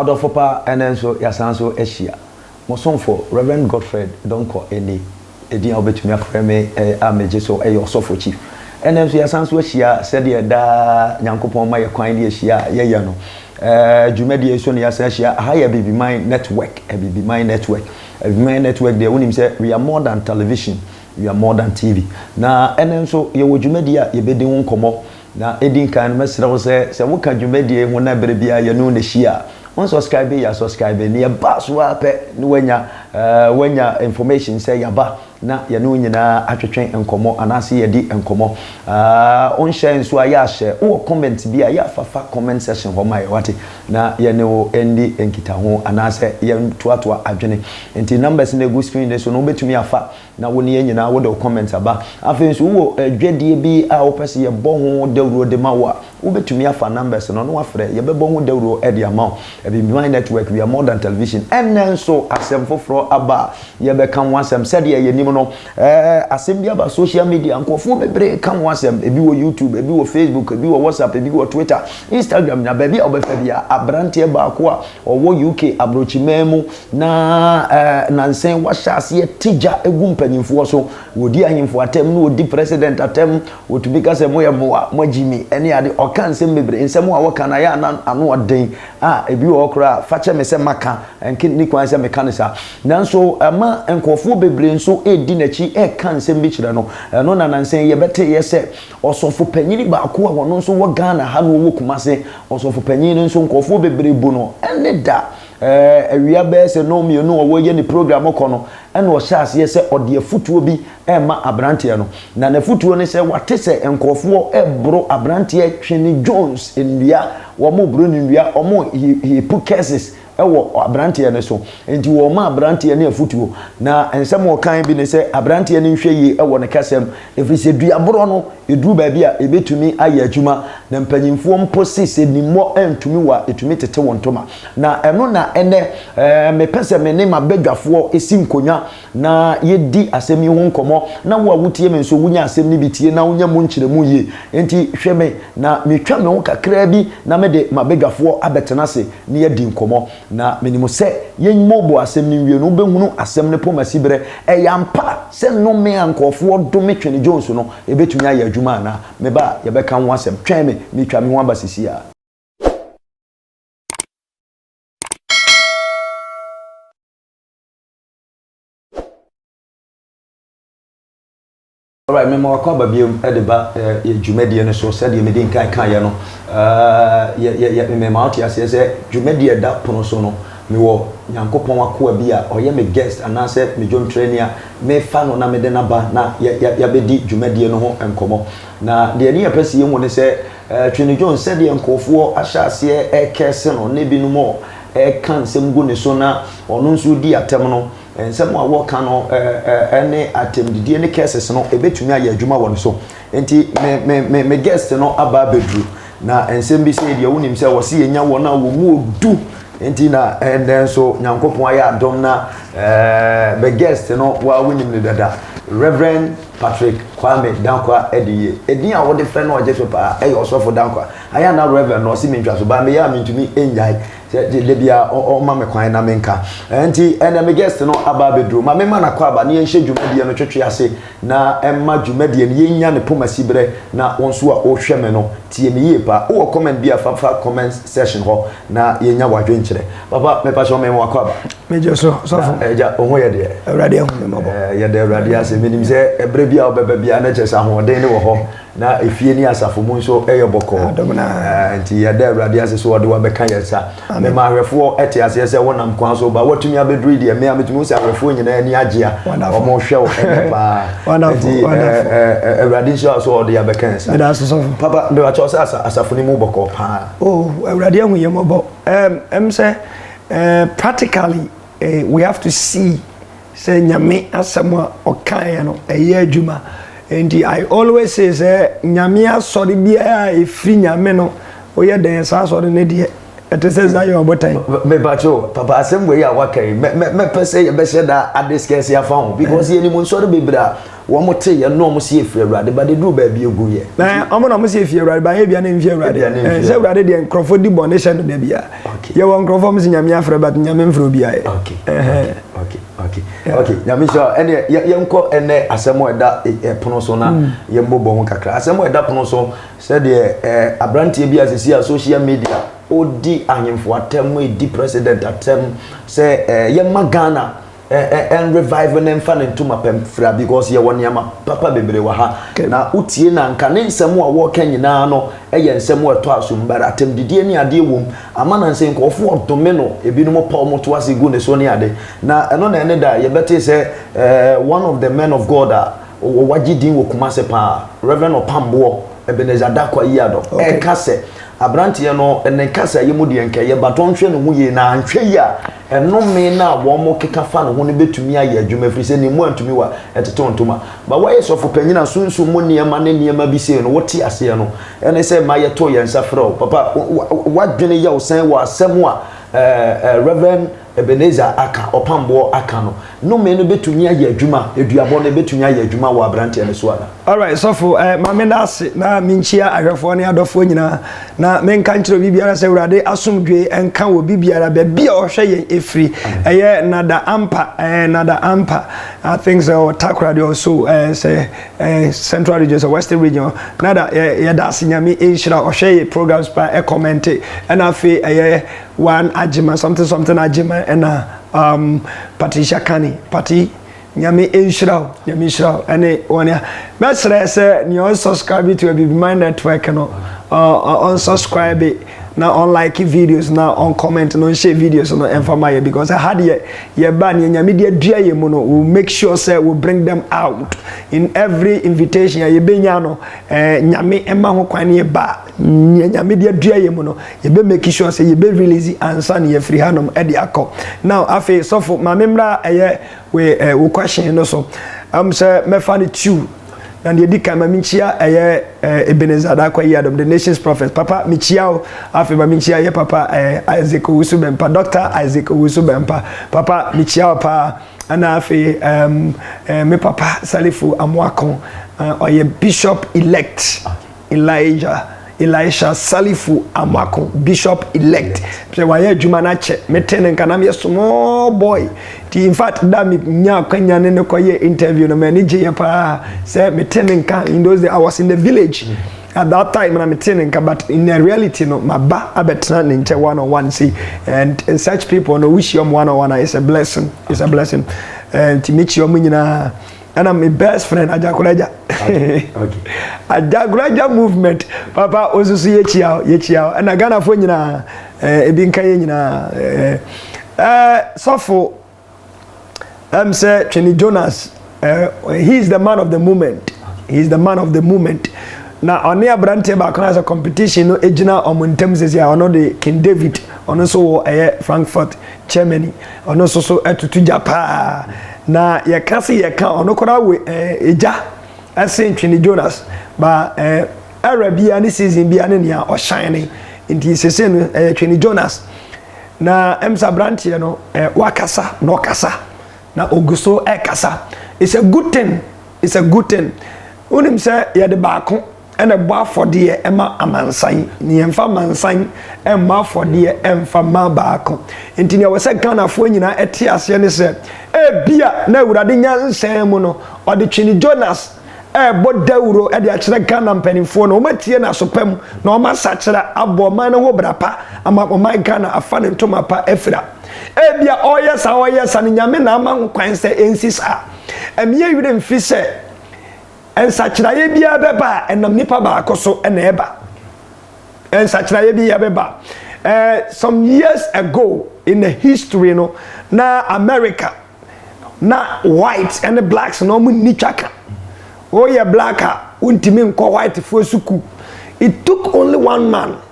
Adɔfo pa, ɛnnɛ nso yɛasan nso ahyia. Mo somfo, Rev. Godfred Donkor Eni, edin a wobetumi afrɛ me a megye so yɛ Ɔsɔfo Chief. Ɛnnɛ nso yɛasan nso ahyia sɛdeɛ daa Nyankopɔn ma yɛ kwan de ahyia a yɛyɛ no. Ɛɛ, dwumadie yi so na yɛasan ahyia. Aha yɛ Abibiman Network, Abibiman Network. Adwuma yɛ network deɛ wonim sɛ we are more than television, we are more than TV. Na ɛnnɛ nso yɛwɔ dwumadie a yɛbɛdi ho nkɔmmɔ. Na ɛdi nkan no mɛsrɛ wo sɛ, sɛ woka dwumadie yi ho na berɛ biara yɛne wo na ɛhyia a, wo nsɔskraibe yɛ a sɔskraibe na yɛba so ara pɛ na woanya woanya information sɛ yɛaba na yɛne wo nyinaa atwetwe nkɔmmɔ anaasɛ yɛadi nkɔmmɔ. Wonhyɛɛ nso a yɛ a hyɛ. Wowɔ comment bi a yɛ a fa fa comment section hɔ ma yɛn wate. na yɛne wo ndi nkitaho anaasɛ yɛntoatoa adwene. Nti numbers no ɛgu screen no so no wobɛtumi afa na wo ne yɛn nyinaa wode wo comments aba. Afei nso wowɔ dwadie bi a wopɛ sɛ yɛbɔ ho dawuro de ma wo a, wobɛtumi afa numbers no na wafrɛ, yɛbɛbɔ ho dawuro de ama wo. Abibimai Network, we are more than television. Ɛnnɛ nso asɛm foforɔ aba a yɛbɛka ho asɛm. Sɛdeɛ yɛnim no, Ɛɛ asɛm bi aba social media nkurɔfoɔ bebree reka ho asɛm ebi wɔ YouTube ebi wɔ Facebook ebi wɔ WhatsApp ebi wɔ Twitter Instagram nyinaa baabi a wobɛfa bia abranteɛ baako a ɔwɔ UK abrokyiman mu na ɛɛ nansɛn wahyɛ aseɛ te gya gu mpanyinfoɔ so wɔdi ahemfo atɛm na wɔdi president atɛm wɔtumi ka sɛ moyɛ mmoa moagyi mi ɛne ade ɔka nsɛm bebree nsɛm a wɔka no ayɛ a na ano ɔden a ebi wɔ hɔ koraa fakyɛ me sɛ maka ɛnke ne kwan sɛ meka no saa Nanso ɛma nkurɔfoɔ bebree nso redi n'akyi reka nsɛm bi kyerɛ no. Ɛno na nansa yi yɛbɛteeɛ sɛ ɔsɔfopanin baako a ɔno nso wɔ Ghana ha na ɔwɔ Kumase. Ɔsɔfopanin no nso nkurɔfoɔ bebree bu no ne da. Awia bɛyɛ sɛ nnɔn mmienu a ɔreyɛ ne program rekɔ no na ɔhyɛ aseɛ sɛ ɔde afotuo bi rema aberanteɛ no. Na n'afotuo ne sɛ wate sɛ nkurɔfoɔ reboro aberanteɛ Twene Jones nnua, wɔreboro no nnua, wɔn he he put curses wɔ aberanteɛ no so. Enti wɔma aberanteɛ no afotuo, na nsɛm a wɔkae bi ne sɛ aberanteɛ no nhwɛ yie wɔ ne kasa mu, ɛfiri sɛ dua borɔ no, ɛduru baabi a, ɛbɛtumi ayɛ adwuma, na mpanimfoɔ mpo se sɛ nimmɔ antumi wo a, ɛtumi tete wo ntoma. Na ɛno na ɛnnɛ mepɛ sɛ me ne m'abadwafoɔ si nkonnwa na yɛdi asɛm yi ho nkɔmmɔ, na wo a wotie me nso wonya asɛm no bi tie na wonya mu nkyerɛmu yie. Enti hwɛ me na metwa me ho kakraa bi na mede m'abadwafoɔ abɛtena ase na yɛadi nkɔmmɔ. Na menim sɛ yɛmmobɔ asɛm no nwie no, wobɛhunu asɛm no poma siberɛ. Ɛyɛ ampa sɛ nnome a nkurɔfoɔ dome Twene Jones no, ɛbɛtumi ayɛ adwuma anaa? Me ba, yɛbɛka ho asɛm. Twɛn me, meretwa me ho aba seesei ara. Alright, mema wakɔ aba biom de ba yɛ dwumadie no so sɛdeɛ medi nkan kaeɛ no mema wote aseɛ sɛ dwumadie a ɛda pono so no mewɔ nyankopɔn akoa bi a ɔyɛ me guest anaasɛ me dwomtrani a mefa no na mede no aba na yɛabɛdi dwumadie no ho nkɔmmɔ na deɛ ani yɛpɛ sɛ yɛhu ne sɛ Twene Jones sɛdeɛ nkurɔfoɔ ahyɛ aseɛ ɛkɛse no ne binom reka nsɛm gu ne so na ɔno nso redi atɛm no, nsɛm a wɔka no ne atɛmdidie ne curses no, ɛbɛtumi ayɛ adwuma wɔ ne so. Nti me, me, me, me guest no aba abɛduru, na nsɛm bi sɛ deɛ wonim sɛ wɔse yɛnya wɔn a wɔn mu ɔdu, nti na ɛndɛ nso Nyankopɔn ayɛ adom na eh, me guest no wa wonim no dada, Reverend Patrick Kwame Dankwa Adeyie. Edin a wɔde frɛ no ɔgye so paa ɛyɛ Ɔsɔfo Dankwa. Ayɛ a na Rev. no ɔse me ntwaso baa me yɛ a mentumi nnyae sɛ da biara ɔma me kwan na menka. Ɛnti ɛnnɛ me guest no aba abɛduru. Ma memma no akwaaba na yɛnhyɛ dwumadie no twetwe ase na ɛmma dwumadie no yɛnnya ne poma siberɛ na wo nso a wohwɛ me no tie me yie paa. Wowɔ comment bi a fa fa comments section hɔ na yɛnya w'adwenkyerɛ. Papa mepakyɛw mema wo akwaaba. Megye so sɔfo. Na agya wo ho yɛ deɛ? Awurade ahu me mmɔbɔ. Yɛda Awurade ase. Menim sɛ ɛberɛ biara wobɛba biara na kyerɛ sɛ ahoɔden no wɔ hɔ Na efie ne asafo mu nso yɛ bɔkɔɔ. Nti yɛda Awurade ase sɛ ɔde wabɛka yɛn sa. Mema ahwɛfoɔ te aseɛ sɛ wonam kwan so ba. Woatumi abɛduru yi deɛ, me a metumi hu sɛ ahwɛfoɔ nyinaa ani agye a wɔhwɛ wo ɛnɛ paa. Nti Awurade nhyira wo sɛ ɔde abɛka yɛn sa. Papa, mepakyɛ wo sɛ asafo no mu bɔkɔɔ paa. Oh, Awurade ahu yɛn mmɔbɔ. Ɛm sɛ practically we have to see. Sɛ Nyame asɛm a ɔkaeɛ no ɛyɛ adwuma nti I always say sɛ Nyame asɔre biara a ɛfiri Nyame no woyɛ dɛn saa asɔre no deɛ ɛte sɛ Zion abotan. Mepakyɛw papa asɛm wei a waka yi mɛpɛ sɛ yɛbɛhyɛ da a discuss afa ho because yɛnim nsɔre bebree a Wɔn te yɛ nna wɔn si efiri awurade ba de duru baabi egu yɛ. Na wɔn na wɔn si efiri awurade ba yɛ bia ne nfi awurade. Ɛn sɛ awurade deɛ nkorɔfo di bɔne hyɛ no da bia. Yɛ wɔ nkorɔfo wɔn si nyame afrɛ but nyame nfrɛ obi ayɛ. Ok ok ok ok nyame nhyira wo ɛne yɛ yɛ nkɔ ɛnɛ asɛm a ɛda ɛpono so na yɛ mbɔ bɔ ho kakra asɛm a ɛda pono so sɛ deɛ ɛɛ abranteɛ bi a sisi a social media odi ahemfo atɛm edi president atɛm sɛ ɛɛ yɛ ma Ghana. ɛn revive ne nfa ne ntoma pɛm fira because yɛ wɔ nneɛma papa bebree wɔ ha na wotie na nka ne nsɛm a wɔka nyinaa no ɛyɛ nsɛm a ɛtɔ asom bara atɛm didie ne adeɛ wɔm ama na nsɛ nkurɔfoɔ ɔdome no ebinom pa wɔn to ase gu ne so ne ade na ɛno na ɛne da yɛbɛte sɛ ɛɛ one of the men of God a wɔagye din wɔ kuma se paa Reverend Ɔpamboɔ Ebenezer Dakwa yi adɔ ɛka sɛ aberanteɛ no ne kasa yi mu deɛ nkɛyɛ but ɔnhwɛ ne ho yie na anhwɛ yi a Nnome no a wɔkeka fa ne ho no betumi ayɛ adwuma ɛfiri sɛ ne mmoa ntumi wa ɛtetew ntoma. Ma woayɛ sɔfo panyin a sunsum mu nneɛma ne nneɛma bi sei no wote aseɛ no ɛne sɛ ma yɛto yɛn nsa frɛ wo. Papa, w'adwene yɛ wo sɛn wɔ asɛm a Rev. Ebenezer aka, Ɔpamboɔ aka no Nnome no bɛtumi ayɛ adwuma, aduabɔ no, ɛbɛtumi ayɛ adwuma wɔ aberanteɛ no so anaa? Alright sɔfo eh ma me da ase na me nkyia ahwɛfoɔ ne adɔfoɔ nyinaa na me nka nkyerɛ obi biara sɛ awurade asomdwoe nka wɔ bi biara baabi a ɔhwɛ yɛn ɛfiri ɛyɛ nada ampa eh nada ampa I think sɛ ɔ takoradi ɔ so eh sɛ eh central region sɛ western region ɔ nada yɛ yɛ da ase nyame nhyira ɔhwɛ yɛ programs pa ɛ kɔmɛnte ɛna afei ɛyɛ one agyema something something agyema ɛna Um, Patricia Kani, Pati, Nyame nhyira wo, Nyame nhyira wo, ɛne wɔn a. Mɛsrɛ sɛ nea ɔn subscribe to Abibimine Network no, ɔn subscribe na ɔn like videos na ɔn comment na ɔn share videos no ɛnfa ma yɛ because ɛha deɛ yɛba nea Nyame de adua yɛ mu no, we will make sure sɛ we bring them out in every invitation a yɛbɛnya no, ɛɛ Nyame ɛma ho kwan ne yɛba. nea nyame de adua yɛ mu no yɛbɛ make sure sɛ yɛbɛ release ansa na yɛfiri hanom de akɔ now afei sɔfo ma memmra ɛyɛ we eh, wo question no so am sɛ mɛfa no two na deɛ di kan ma menkyia ɛyɛ eh, ebenezer adakwa yi adom the nations prophet papa mekyia o afei ma menkyia yɛ papa eh, isaac owusu bɛmpa dr isaac owusu bɛmpa papa mekyia o paa ɛna afei um, eh, me papa salifo amoako uh, ɔyɛ bishop elect Elijah Elisha Salifu Amako Bishop elect sɛ wayɛ adwuma no akyɛ mete no nka na meyɛ small boy nti in fact da menya akwanya ne no kɔyɛ interview no m'ani gyeeɛ paa sɛ mete no nka in those days I was in the village at that time na mete no nka but in the reality no maba abɛtena ne nkyɛ one on one sei and such people no wohyia ɔmo one on one a it's a blessing it's a blessing nti mekyia ɔmo nyinaa ɛna me best friend ajakoraja ajakoraja movement papa wo nso so yɛkyia wo yɛkyia wo ɛna ghanafoɔ nyinaa eh, ebi nka yɛ nyinaa eh, eh, sɔfo ɛm sɛ twene jonas eh, he is the man of the moment he is the man of the moment na ɔne aberanteɛ baako no sɛ competition no gyina ɔmo ntam sɛsi a ɔno de king david ɔno nso wɔ ɛyɛ frankfurt Germany, ɔno nso so atutu gya paa, na yɛka se yɛka ɔno koraa wɔ eh, gya ɛse ntwene Jonas, ba eh, era bia ne season bia ne nea ɔhyɛne, nti sese no ɛyɛ twene Jonas, na ɛms abranteɛ no eh, wakasa na ɔkasa, na ogu so ɛkasa, it's a good thing, it's a good thing, wonim sɛ yɛde baako. na ɛbɔ afɔdeɛ ma amansan, na yɛmfa amansan mmɔ afɔdeɛ mfa mma baako. Nti nea ɛwɔ sɛ Ghanafoɔ nyinaa te aseɛ ne sɛ, ebia na Awurade nyansa mu no, ɔde Twene Jonas rebɔ dawuro de akyerɛ Ghana mpanimfoɔ no, wɔatie n'aso pa mu na wɔasakyera abɔ ɔman no ho bra pa ama ɔman Ghana afa ne ntoma pa afira. Ebia ɔreyɛ saa ɔreyɛ saa no, Nyame na ama ho kwan sɛ ɛnsi saa. Ɛmeyɛ werɛ mfi sɛ, Nsakyeraeɛ biara bɛba a, ɛnam nipa baako so na ɛba. Nsakyeraeɛ biara bɛba. Eh, some years ago in the history no, na America, na white ne blacks na wɔn nni twaka. Woyɛ black a, wontumi nkɔ whitefoɔ sukuu. It took only one man.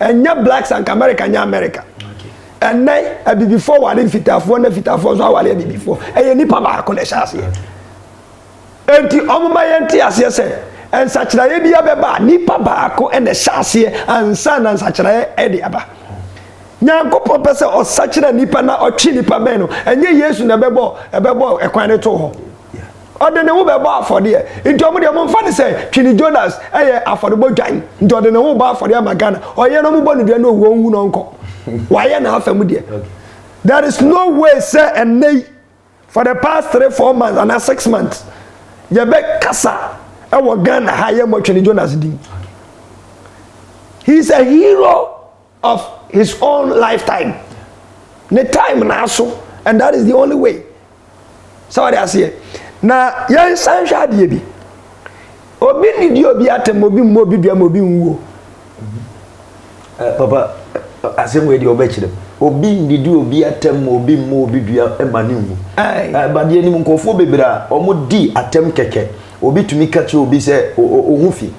Ɛnyɛ blacks anka America nyɛ America. Ɛnɛ abibifoɔ ware mfitaafoɔ na mfitaafoɔ nso aware abibifoɔ. Ɛyɛ nipa baako na ɛhyɛ aseɛ. Enti wɔn ma yɛn te aseɛ sɛ nsakyeraeɛ bi abɛba a nipa baako na ɛhyɛ aseɛ ansa na nsakyeraeɛ de aba. Nyankopɔn pɛ sɛ ɔsakyera nipa na ɔtwe nipa bɛn no. Ɛnyɛ Yesu na ɛbɛbɔ ɛbɛbɔ ɛkwan no to hɔ. Ɔde ne ho bɛbɔ afɔdeɛ nti ɔmo deɛ ɔmo nfa ne sɛ Twini Jonas ɛyɛ afɔrebɔ dwan nti ɔde ne ho bɔ afɔdeɛ ama Ghana ɔyɛ na ɔmo bɔ no dua na owu ɔnwu na ɔnkɔ wayɛ n'afa mu deɛ there is no way sɛ ɛnɛ yi for the past three four months ana six months yɛbɛ kasa ɛwɔ Ghana ha yɛ mɔ Twini Jonas din he is a hero. of his own life time ne time naaso and that is the only way sɛ wɔde aseɛ na yɛnsan hwɛ adeɛ bi obi nnidi obi atɛm obi mmɔ obi dua ma obi nwuo eh, papa eh, asɛm wei deɛ ɔbɛkyerɛ obi nnidi obi atɛm ma obi mmɔ obi dua eh, ma ne nwu badeɛ anim nkurɔfoɔ bebree a wɔdi atɛm kɛkɛ obi tumi ka kyerɛ obi sɛ ɔho fi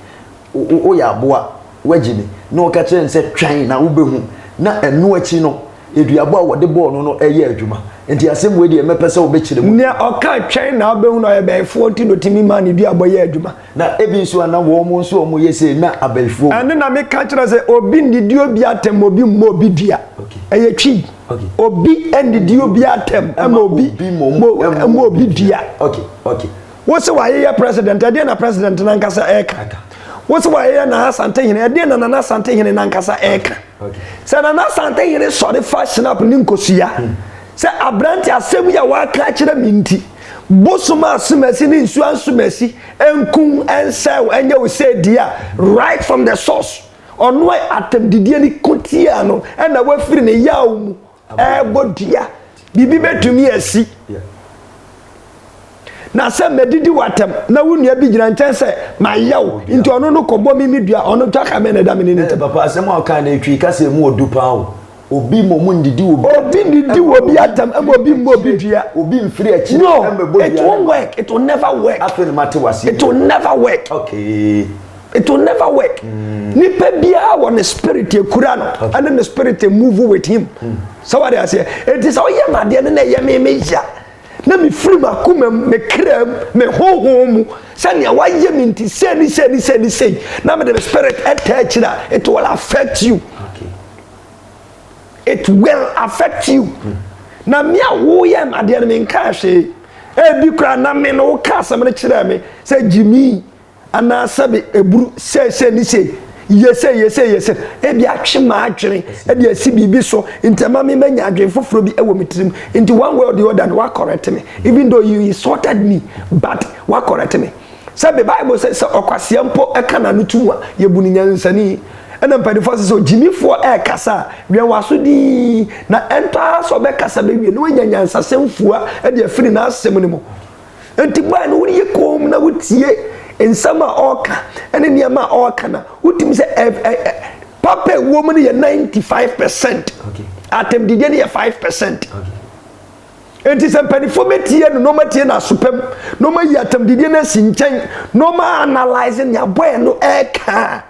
Woyɛ aboa, woagye me. Na ɔka kyerɛɛ no sɛ, Twɛn na wobɛhu. Na ɛno akyi no, aduabɔ a wɔde bɔɔ no no yɛɛ adwuma. Enti asɛm wei deɛ, mɛpɛ sɛ wobɛkyerɛ mu. Nea ɔkaa twɛn na wobɛhu no, ɔyɛ bɛyifoɔ nti na ɔtumi maa ne duabɔ yɛɛ adwuma. Na ebi nso a na wɔn nso a wɔyɛ sei na abɛyifoɔ wɔ. Ɛno na meka kyerɛ sɛ, obi nnidi obi atɛm, obi mmɔ obi dua. Ɛyɛ twi. Obi nnidi obi atɛm, ɛma obi mmɔ obi dua. Wo se w'ayeyɛ president, ɛdeɛn na president no ankasa ɛreka? Wo se w'ayeyɛ Nana Asantehene, ɛdeɛn na Nana Asantehene no ankasa ɛreka? Sɛ Nana Asantehene sɔre fa Schnapp ne nkosua hmm. sɛ aberante asɛm yi a waka akyerɛ me nti bosom a asomasi ne nsuo asomasi nkum nsɛw ɛnyɛ wo sɛ di a right from the source ɔno a atɛmdidie ne kotia no ɛna wafiri ne yaw mu ɛrebɔ dua biribi bɛtumi asi na sɛ mɛdidi w'atɛm na wo nua bi gyina nkyɛn sɛ mayɛ wo nti ɔno no kɔbɔ me me dua ɔno twa ka bɛn na ɛda me ne ne ntam papa asɛm a ɔka no ɛtwi kasa mu ɔdu paa o obi mmɔ mu ndidi wɔ obi ndidi wɔ obi atɛm ɛma obi mmɔ obi dua obi mfiri akyi no it won't work it will never work afei no mate wase it will never work okay it will never work mm. nipa biara wɔ ne spirit ekura no ɛne ne spirit move with him mm. sɛ wade aseɛ eti sɛ ɔyɛ mu adeɛ no na ɛyɛ me me ya na me firi mu akoma mu me kra mu me honhom mu sɛnea wayɛ me nti sɛ ni sɛ ni sɛ ni sɛ na me de me spirit ɛtɛ akyire a it will affect you okay. it will affect you mm. na me a woyɛ mu adeɛ no me nka ahwee ebi kura na me no woka asɛm no kyerɛ me sɛ gyimii. anaa sɛbe aburu seesei ne sei, yese yese yese, ebi atwe m'adwene de asi biribi so, nti ɛma me manya adwene foforɔ bi wɔ me tirim, nti one way or the other no wakɔrɛte me, even though you insulted me, but wakɔrɛte me. Sɛbe Bible sɛ sɛ ɔkwasea mpo ka n'ano to mu a, yɛbu no nyansani. Ɛna mpanimfoɔ sɛ sɛ ogyimifoɔ ɛrekasa a, wɛn w'aso dinn, na ɛntɔ ara sɛ ɔbɛkasa bɛwie na wanya nyansasɛm fua de afiri n'asɛm no mu. Enti baa no wode yɛ koom na wotie nsɛm a ɔreka ne nneɛma a ɔreka na wotumi sɛ ɛ ɛ ɛ papa ɛwɔ mu no yɛ ninety five percent atɛmdideɛ no yɛ five percent enti sɛ mpanimfoɔ bɛtie no na wɔatie no asopam na wɔayi atɛmdideɛ no asi nkyɛn na wɔanalyse nea bɔɛ no ɛreka a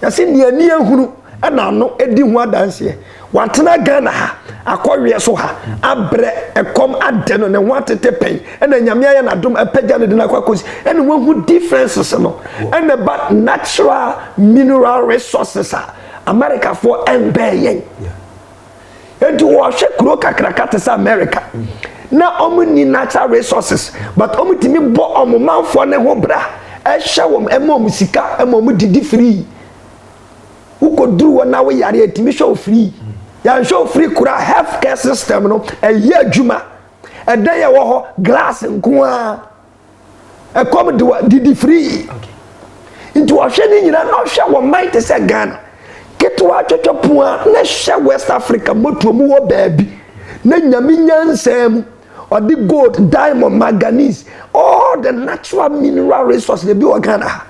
Yɛse nea ani ahunu na ano di ho adanseɛ. Watena Ghana ha, akɔweɛ so ha, abrɛ, ɛkɔm adɛ no, ne ho atete pɛn, ɛna Nyame ayɛ no adom apagya no de no akɔ akɔsi, ɛna wahu differences no, ɛna ɛba natural mineral resources a Americafoɔ ɛmbɛɛ yɛn. nti wɔhwɛ kuro kakraka te sɛ america na wɔn ni natural resources but wɔn tumi bɔ wɔn manfoɔ ne ho bra ɛhyɛ wɔn ɛma wɔn sika ɛma wɔn didi free wokɔduru hɔ na woyare ɛtumi hwɛ wo free yɛnhwɛ wo free koraa health care system no ɛyɛ adwuma ɛdan yɛ wɔ hɔ glass nko ara. ɛkɔm de wa didi firii nti ɔhwɛ ne nyinaa na ɔhwɛ wɔ man te sɛ ghana ketewa twɛtwɛ pono a na hyɛ west africa motuo mu wɔ baabi na nyame nyansaa mu ɔde gold diamond manganese all the natural mineral resource na ebi wɔ ghana ha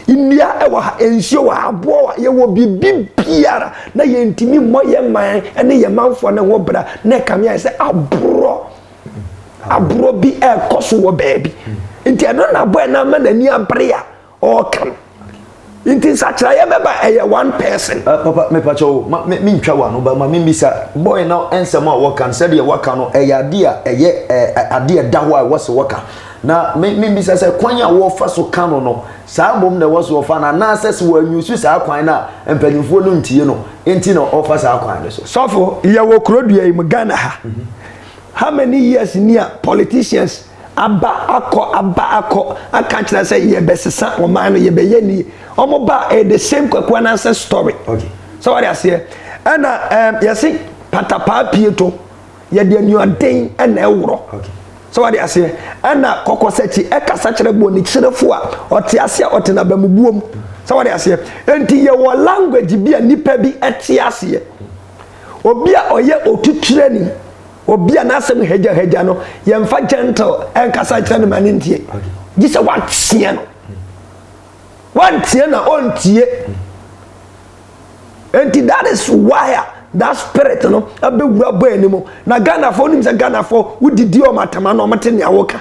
nnua ɛwɔ ha nsuo wɔ ha aboɔ wɔ ha yɛwɔ biribi biara na yɛntumi mmɔ yɛn man ne yɛn manfoɔ ne ho bra na ɛkame ayɛ sɛ aborɔ agorɔ bi ɛrekɔ so wɔ baabi nti ɛno na abɔ ɛna ama n'ani abere a ɔreka no nti nsakyerɛeɛ bɛba ɛyɛ one person. Uh, papa mepakyɛ o ma me ntwa wa no ba ma me mbisa bɔyɛ na nsɛm a wɔka no sɛdeɛ wɔka no ɛyɛ adeɛ a ɛyɛ ɛɛ adeɛ ɛda hɔ a ɛwɔ se wɔka na me me mbisa sɛ kwan a wɔfa so ka no no saa mbom na ɛwɔ so wɔfa no anaasɛ sɛ wɔanyusu saa kwan no a mpanyinfoɔ no ntie no nti na ɔfa saa kwan no so. sɔfo yɛwɔ kurodua yi mu ghana ha. Mm -hmm. How many years ni a politicians aba akɔ aba akɔ aka akyerɛ sɛ yɛbɛsesa ɔman no yɛbɛyɛ nie wɔn ba ɛyɛ the same kwaku anansɛ story sɛ wɔde aseɛ ɛna ɛɛm yɛsi patapaa pie to yɛde anuaden ɛna ɛworɔ sɛ wɔde aseɛ ɛna kɔkɔsɛkyi ɛkasa kyerɛ bonikyerefo a ɔte ase a ɔte n'abamubuom sɛ wɔde aseɛ nti yɛwɔ language bi a nipa bi ɛte aseɛ. Obi a ɔyɛ otuturani, obi a n'asɛm hagyahagya no, yɛmfa gentle nkasa nkyerɛ no ma no ntie. Gye sɛ woateɛ no. Woanteɛ no a, ɔntie. Enti that is why a that spirit no abɛwura bɔ anim. Na Ghanafoɔ nim sɛ Ghanafoɔ wodidi wɔn atama na wɔte nea woka.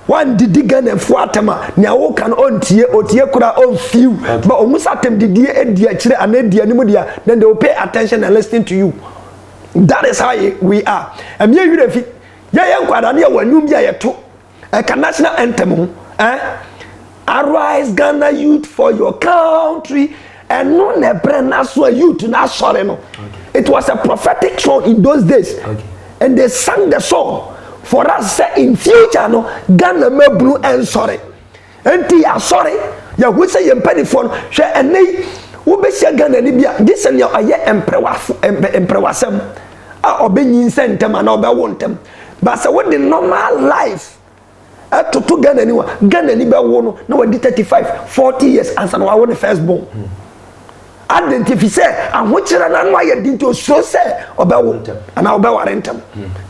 Wandidi Ghanafoɔ atam a nea woka no ɔntie, ɔtie koraa ɔnfew. But ɔhu sɛ atam didie adi akyire anaa adi anim deɛ a, then they will pay attention and listening to you. That is how we are. Ɛmi yɛ werɛ fi. Yɛyɛ nkwadaa no yɛwɔ nnwom bi a yɛto ɛka national anthem ho. Eh? Arise Ghana youth for your country ɛno na ɛbrɛ n'aso a youth na asɔre no it was a prophetic song in those days and they sang the song for us sɛ in future no Ghana mabunu ɛnsɔre nti yɛasɔre yɛho sɛ yɛn mpanimfoɔ no hwɛ ɛnɛ yi wobɛhyia Ghana ni bi a gye sɛ nea ɔyɛ mprɛwasɛm a ɔbɛnyinsɛ ntɛm anaa ɔbɛwo ntɛm ba sɛ wode normal life ɛtoto ghana ni wa ghana ni bɛwo no na wadi thirty five forty years ansa na wawo ne first born adi nti fi sɛ ahokyerɛ na ano ayɛ di nti osuro sɛ ɔbɛwo anaa ɔbɛware ntɛm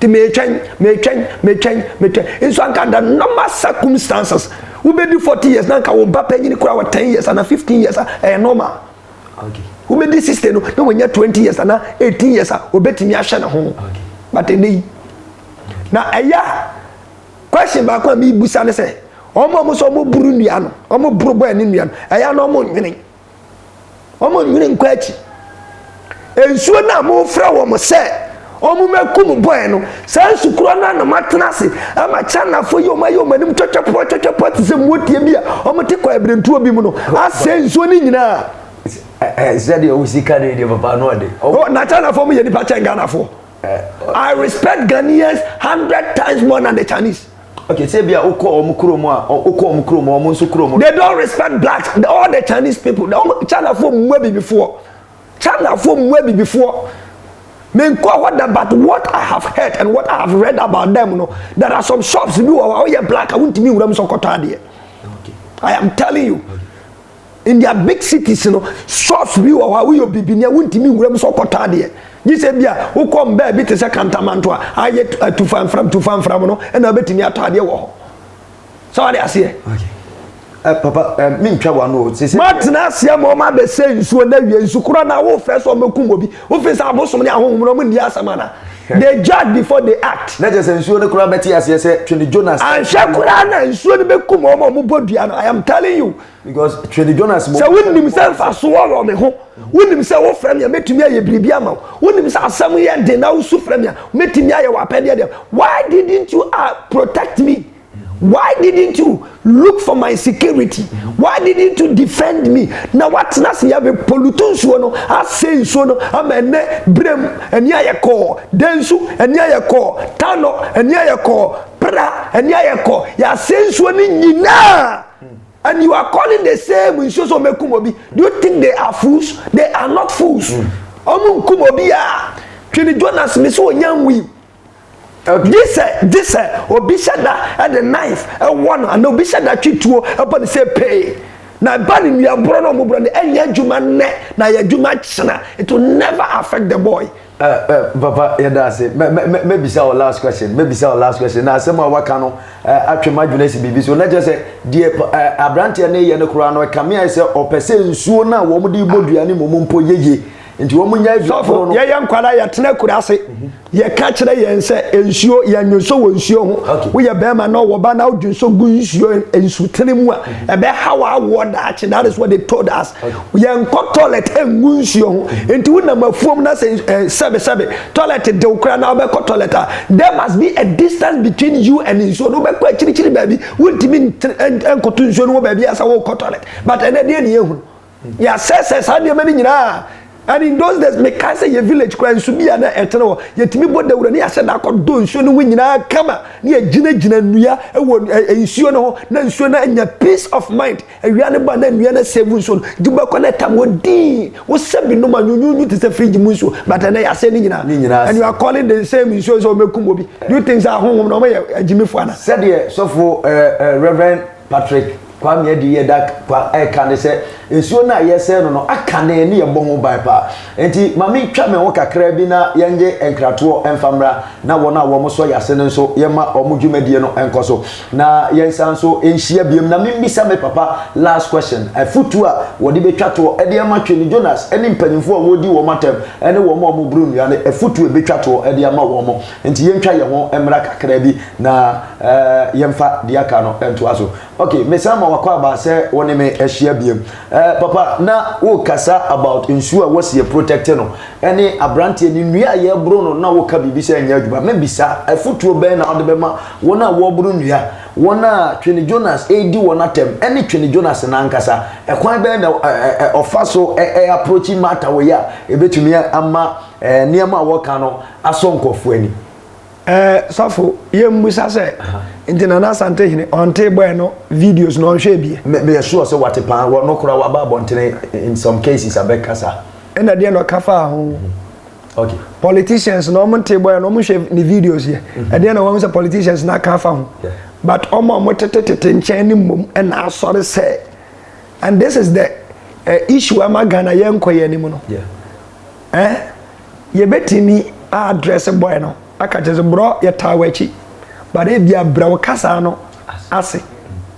ti mɛtwɛn mɛtwɛn mɛtwɛn mɛtwɛn nso anka da normal circumstances wobɛdi forty years na anka wo ba panyin kura wɔ ten years anaa fifteen years a ɛyɛ normal wobɛdi sixty no na wɔnyɛ twenty years anaa eighteen years a obɛtumi ahyɛ ne ho but ɛnɛ yi. Na ɛyɛ a question baako a mebusa ne sɛ wɔn a wɔsɛ wɔn buru nnua no wɔn boro bɔɛ ne nnua no ɛyɛ a na wɔn nwene wɔn nwene nkɔ akyi nsuo no a wɔfrɛ wɔn sɛ wɔn mɛkum bɔɛ no saa nsukuro no na wɔatena ase ama Chinafoɔ yi wɔn ayɛ wɔn anim twɛtwɛpoɔ twɛtwɛpoɔ te sɛ mmotie bi a wɔte kɔ abirentuo bi mu no asɛ nsuo no nyinaa. sɛdeɛ wo sika no yɛ deɛ papa no ɔde na Chinafoɔ mo yɛ nipa kyɛn Ghanafoɔ I respect Ghanaians hundred times more than the Chinese. Okay, say be a okọ ọmụ kuro mụ a okọ ọmụ kuro mụ ọmụ nso kuro mụ. They don't respect blacks. The, all the Chinese people. The ọmụ China fo mmụọ bibifoɔ. China fo mmụọ bibifoɔ. Menkɔ hɔ da but what I have heard and what I have read about them no there are some shops bi wɔ hɔ a woyɛ black a wontumi nwura mu sɛ ɔkɔtɔ adeɛ. I am telling you. Okay. in their big cities no shops bi wɔ hɔ a woyɛ obibini a wontumi nwura mu sɛ ɔkɔtɔ adeɛ gye sɛ bi a wokɔ mbaa bi te sɛ kantamanto a ayɛ atufamfram tufamfram no ɛna wobɛtumi atɔ adeɛ wɔ hɔ sɛ wade aseɛ eh, papa eh, mentwa wano sɛsɛ matena aseɛ ma ɔma bɛsɛ nsuo na wie nsu korɔ na wofrɛ sɛ ɔmɛkum obi wofei sɛ abosom ne ahohom no ɔmo nni asɛm ana they judge before they act na kyɛ sɛ nsuo no koraa bɛte aseɛ sɛ twene jonas anhwɛ koraa na nsuo no bɛkum ɔma ɔmobɔ dua no i am telling you sɛ wonim sɛ mfaso wɔ wɔ me ho wonim sɛ wofrɛ me a mɛtumi ayɛ biribi ama wo wonim sɛ asɛm yɛ den na wosu frɛ me a mɛtumi ayɛ w'apɛdeɛ deɛ why didn't you uh, protect me why didn't you look for my security why didn't you defend me na woatena ase yɛ polutu nsuo no asɛ nsuo no ama ɛnɛ berɛ mu ani ayɛ kɔɔ dɛn nso ani ayɛ kɔɔ tanɔ ani ayɛ kɔɔ pra ani ayɛ kɔɔ yɛasɛ nsuo no nyinaa And you are calling the same nsuo sɛ ɔmɛkum obi do you think they are fools they are not fools ɔmo hmm. nkum obi a twene jonas mi sɛ ɔnya nwui gye sɛ gye sɛ obi hyɛ da ɛde knife ɛwɔ no ana obi hyɛ da twe tuo ɛbɔ ne sɛ pee na ɛba ne nnuaborɔ na ɔmo borɔ no ɛnyɛ adwuma nnɛ na yɛ adwuma kyena it will never affect the boy. Ɛ ɛ papa yɛda ase mɛ mɛ mɛ mɛbisa wɔ last question mɛbisa wɔ last question na asɛm a waka no ɛ atwe m'adwene asi biribi so na kyerɛ sɛ deɛ ɛ aberanteɛ no yɛ no koraa no ɛkame ayɛ sɛ ɔpɛ sɛ nsuo no a wɔn de bɔ dua no mu mu mpo yɛ yie nti wɔn nya adua koro no. yɛyɛ nkwadaa yɛtena kura ase yɛka kyerɛ yɛn sɛ nsuo yɛn nso wɔ nsuo ho woyɛ bɛrima na ɔwɔ ba na wodwe nso gu nsuo nsutene mu a ɛbɛha w'awoɔ daakye that is what they told us. yɛnkɔ toilet ngu nsuo ho nti wonam afuom na sɛ eh, sɛbesɛbe toilet dew koraa na wobɛkɔ toilet a there must be a distance between you and nsuo no wobɛkɔ akyirikyiri baabi wontumi nkɔto nsuo no wɔ baabi a sɛ wokɔ toilet but ɛnɛ deɛ ne yɛhunu yɛasɛsɛ saa nneɛma no nyinaa and in those days mekae sɛ yɛ village koraa nsu bi a na ɛtene hɔ yɛtumi bɔ dawura ne yɛahyɛ da akɔdɔ nsuo no ho nyinaa kama ne yɛgyinagyina nnua wɔ nsuo no ho na nsuo no anya peace of mind Awia no ba na nnua no asɛe gu nsuo no de bɛkɔ na ɛtam hɔ dinn. Wosɛ bi nom a, nyunyunyu te sɛ fridge mu nsuo but ɛnɛ yɛasɛe ne nyinaa. Ne nyinaa And you asɛe. are calling the same nsuo sɛ wɔbɛkum obi. Do you think sɛ ahonhom no wɔyɛ agyimifoɔ anaa? Sɛdeɛ sɔfo eh, eh, Rev. Patrick Kwame Adiyie Dak Kwa ɛreka ne sɛ, nsuo no a yɛresɛe no no akane ne yɛbɔ ho ban paa. Enti ma mentwa me ho kakra bi na yɛnnye nkratoɔ mfa mmra na wɔn a wɔsɔ yɛn ase no nso yɛmma wɔn dwumadie no nkɔ so. Na yɛnsan nso nhyia biom na memmisa me papa last question, afutuo a wɔde bɛtwa toɔ de ama Twene Jonas ne mpaninfoɔ a wɔredi wɔn atɛm ne wɔn a wɔboro nnua no afutuo a ɛbɛtwa toɔ de ama wɔn. Nti yɛntwa yɛn ho mmra kakra bi na yɛmfa deɛ aka no ntoa so. Okay, mesan ma wakɔ aba sɛ wo ne me ahyia biom. Eh papa na wo kasa about nsuo a wɔsi yɛ protect no ɛne abranteɛ ne nnua a yɛboro no na wo ka biribi sɛ ɛnyɛ adwuma mɛ bisa afutuo bɛn na wode bɛma wɔn a wɔboro nnua wɔn a twene Jonas ɛredi wɔn atɛm ɛne twene Jonas no ankasa ɛkwan bɛn na eh ɔfa so eh approachi matter wei a ɛbɛtumi ama eh nneɛma a wɔka no asɔ nkorɔfoɔ ani. Eh sɔfo yɛ mmusa sɛ nti Nana Asante hene ɔntee bɔɛ no videos no ɔnhwɛɛ bie. Me meyɛ sure sɛ wate paa wɔ no koraa waba abɔntene in some cases abɛ kasa. Ɛna deɛ na ɔka faa ho. Okay. Politicians no ɔmo ntee bɔɛ no ɔmo nhwɛ ne videos yɛ ɛdeɛ na wahu sɛ politicians no aka afa ho but ɔmo a ɔmo tete tete nkyɛn no mmom ɛna asɔre sɛ and this is the eh issue ama Ghana yɛnkɔ yɛn anim no. Yeah. Eh yɛbɛtumi a address boy no aka kyerɛ sɛ brɔ yɛtaa w'akyi but ebia brɛ wo kasaa no ase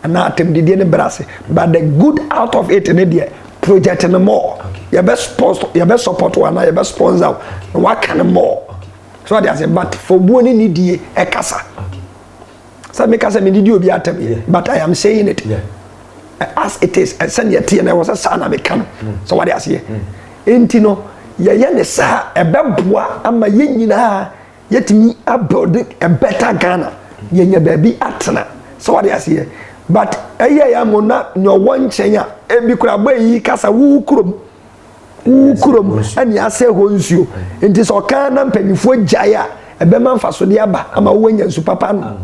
anaa atɛmdidie no brɛ ase but the good out of it ne deɛ project no more yɛbɛ sponsor yɛbɛ support wo anaa yɛbɛ sponsor wo na waka no more so ɔde ase but fɔbuo ne nidie ɛkasa. Okay. sɛ meka sɛ mede di obi atam but i am saying it as it is sɛdeɛ ɛteɛ na ɛwɔ sɛ saa na meka no sɛ wade aseɛ nti no yɛyɛ ne saa ɛbɛboa ama yɛn nyinaa yɛtumi abuild a better ghana yɛnya baabi atena sɛ wade aseɛ but ɛyɛ yɛ mo na nea ɔwɔ nkyɛn a ebi kora bɔ eyi kasa wo kurom wo kurom ne asɛe hɔ nsuo nti sɛ ɔkaa na mpanimfoɔ gyae a ɛbɛma mfasodeɛ aba ama wowanya nsu papa nom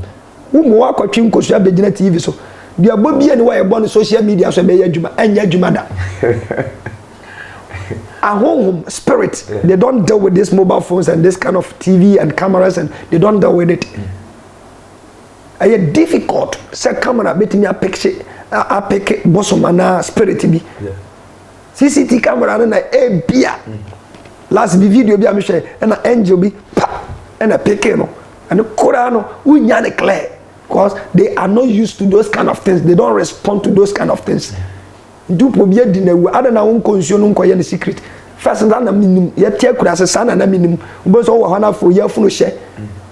woma woakɔtwe nkosua bɛgyina tv so duabɔ bia ne wɔ yɛbɔ no social media so ɛbɛyɛ adwuma ɛnyɛ adwuma da ahonhom spirit they don't deal with these mobile phones and this kind of tv and cameras and they don't deal with it ɛyɛ difficult sɛ camera bɛtumi apeke apeke bosom anaa spirit bi yeah. cct camera no na ebia last bi video bi a mehwɛ ɛna angel bi pa ɛna peke no ɛno koraa no wonya ne clear because they are not used to those kind of things they don't respond to those kind of things ntupo bi adi na awu adan na wonkɔ nsuo no nkɔyɛ no secret first na na menim yɛte akura ase saa na na menim wobɛhu sɛ wowɔ hɔ no afo yɛ afunu hyɛ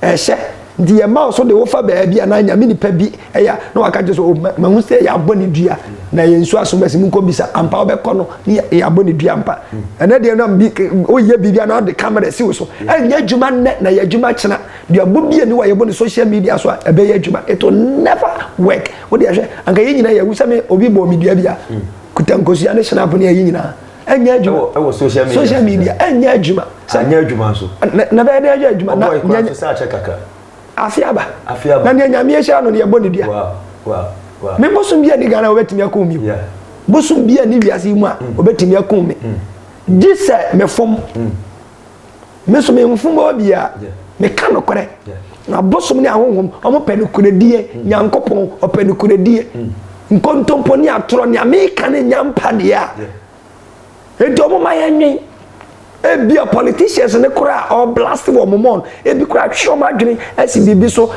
ɛhyɛ Nti yɛma wo so de wofa baabi anaa nyame nipa bi ɛyɛ a na waka kyerɛ sɛ oh, mahu sɛ yɛabɔ ne dua na yɛn nsu asom asi mu nkɔbisa ampa wobɛkɔ no ne yɛabɔ ne dua mpa ɛnɛ deɛ nam bi woyɛ biribi anaa de kamera si wo so ɛnyɛ adwuma nnɛ na yɛ adwuma kyena duabɔ bi ani wɔ yɛbɔ ne social media so a ɛbɛyɛ adwuma it will never work wode ɛhwɛ anka yɛ nyina yɛwu sɛ me obi bɔɔ me dua bi a kuta nkosua ne hyena apo ne ɛyi nyinaa ɛnyɛ adwuma ɛwɔ social media social media ɛnyɛ adwuma sɛ ɛnyɛ adwuma nso na bɛyɛ dɛ ɛnyɛ adwuma na nyɛ nyɛ sɛ akyɛ kakra afi aba afi aba na nea nyame ahyira no no yɛbɔ ne dua wow wow wow me bosom bi a ne ghana wɔbɛtumi akɔ mi yeah bosom bi a ne wiase yi mu a wɔbɛtumi mm. akɔ mi mm. gye sɛ mefom mm. me nso me mfom obi a meka nokorɛ na abosom ne ahonhom ɔmo pɛ nokorɛdie mm. nyankopɔn ɔpɛ nokorɛdie mm. nkontompo ne atorɔ nea meka ne nya mpa deɛ a enti ɔmo ma yɛnwen ebi a politicians ne koraa ɔblast wɔ ɔmo mɔn ebi koraa atwe ɔmo adwene asi biribi so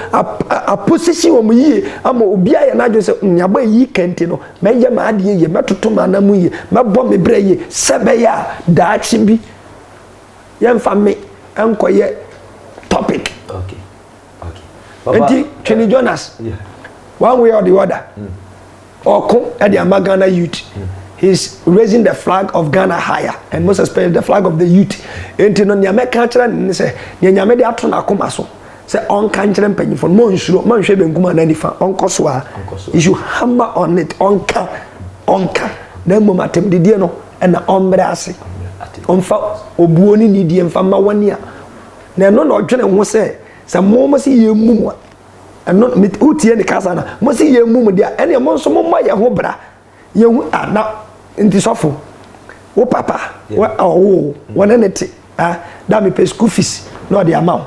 aposisi wɔn yie ama obi ayɛ n'adwene sɛ mm, nneɛma eyi kɛntɛ no mɛyɛ m'adeɛ yie mɛtoto m'anam yie mɛbɔ me brɛ yie sɛ bɛyɛ a daakye bi yɛmfa me nkɔyɛ topic okay. Okay. Baba, nti twene uh, jonas yeah. one way or the other mm. ɔko mm. de ama ghana youth mm. he's raising the flag of ghana higher and most especially the flag of the youth nti no nea mɛka kyerɛ ne ne sɛ nea nyame de ato n'akoma so sɛ ɔnka nkyerɛ mpanyinfo no monsuro monhwɛ benkum anaa nifa ɔnkɔ so a you should hammer on it ɔnka ɔnka na mmom atɛmdidie no ɛna ɔmbrɛ ase ɔmfa obuo ne nidie mfa ma wɔne a na ɛno na ɔdwene ho sɛ sɛ mo mo se yɛn mu mu a ɛno wotie ne kasa na mo se yɛn mu mu deɛ ɛne mo nso mo mmɔ yɛn ho bra yɛhu a na nti sɔfo wo papa ɔwoo wɔne ne te da mepɛ school fees na ɔde ama wo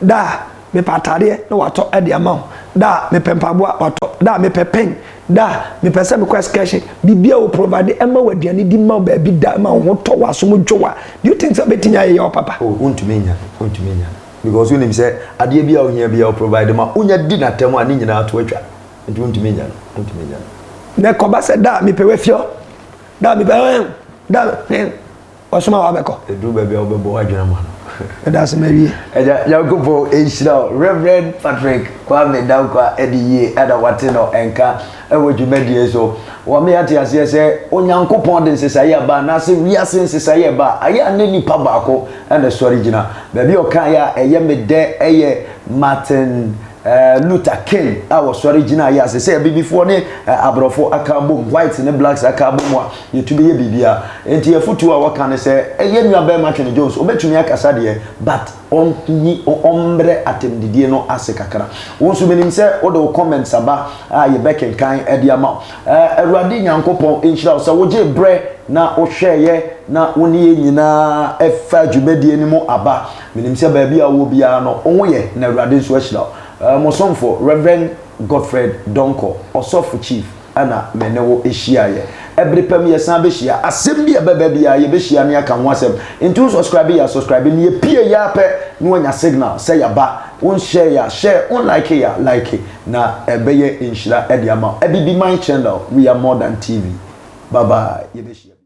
da mepɛ atadeɛ na watɔ de ama wo da mepɛ mpaboa watɔ da mepɛ pen da mepɛ sɛ mekɔ excursion biribia wo provide ɛma wo aduane di ma wo baabi da ma wo ho tɔ wo asom dwo wa do you think sɛ wobɛtumi ayɛ yɛ wo papa oh, wontumi nya wontumi nya because wonim sɛ adeɛ bi a wohia bi a wo provide ma wonya di n'atam a ne nyinaa to atwa Nti wontumi nya no, wontumi nya no. Na ɛkɔba sɛ da a mepɛ wafiɔ, da a mepɛ ɛn, da ɛn, ɔsoma wa bɛkɔ. Ɛduru baabi a wobɛbɔ w'adwene ama no. Ɛda ase ma wie. Ɛda Nyankopɔn ɛnhyira wo Reverend Patrick Kwame Dankwa ɛde yie ɛna wate no ɛnka ɛwɔ dwumadie so. Wɔma yɛate aseɛ sɛ Onyankopɔn de nsesaeɛ ɛba anaasɛ wiase nsesaeɛ ɛba a, ɛyɛ a ne nipa baako ɛna ɛsɔre gyina. Baabi a ɔkaeɛ a ɛyɛ me dɛ ɛyɛ Martin Luther King a wɔsɔre gyina yɛ ase sɛ abibifoɔ ne aborɔfo aka abom whites ne blacks aka abom a yɛtu bɛyɛ biribiara nti afotuo a wɔka ne sɛ yɛn nua bɛrima Twene Jones ɔbɛtumi akasa deɛ but ɔnyi ɔmmerɛ atɛmdidie no ase kakra wo nso menim sɛ wode wo comments aba a yɛbɛkenkan de ama wo Awurade Nyankopɔn nhyira wo sɛ wogye berɛ na wohwɛeɛ na wo ne yɛn nyinaa ɛfa dwumadie no mu aba Menim sɛ baabi a wowɔ biara no, wo ho yɛ na Awurade nso ahyira wo. Eh, mo somfo, Rev. Godfred Donkor, Ɔsɔfo Chief, na me ne wo hyiaeɛ. Ɛbere pa mu yɛsan bɛhyia. Asɛm bi a ɛbɛba biara, yɛbɛhyia na yɛaka ho asɛm. Enti wo sɔskraibe yɛ a, sɔskraibe. Ne yɛpieeɛ ara pɛ na woanya signal sɛ yɛaba. Wo nhyɛeɛ a, hyɛe. Wo nlikeeɛ a, like. Na ɛbɛyɛ nhyira de ama wo. Abibiman Channel, We Are More Than TV. Bye bye. Yɛbɛhyia bio.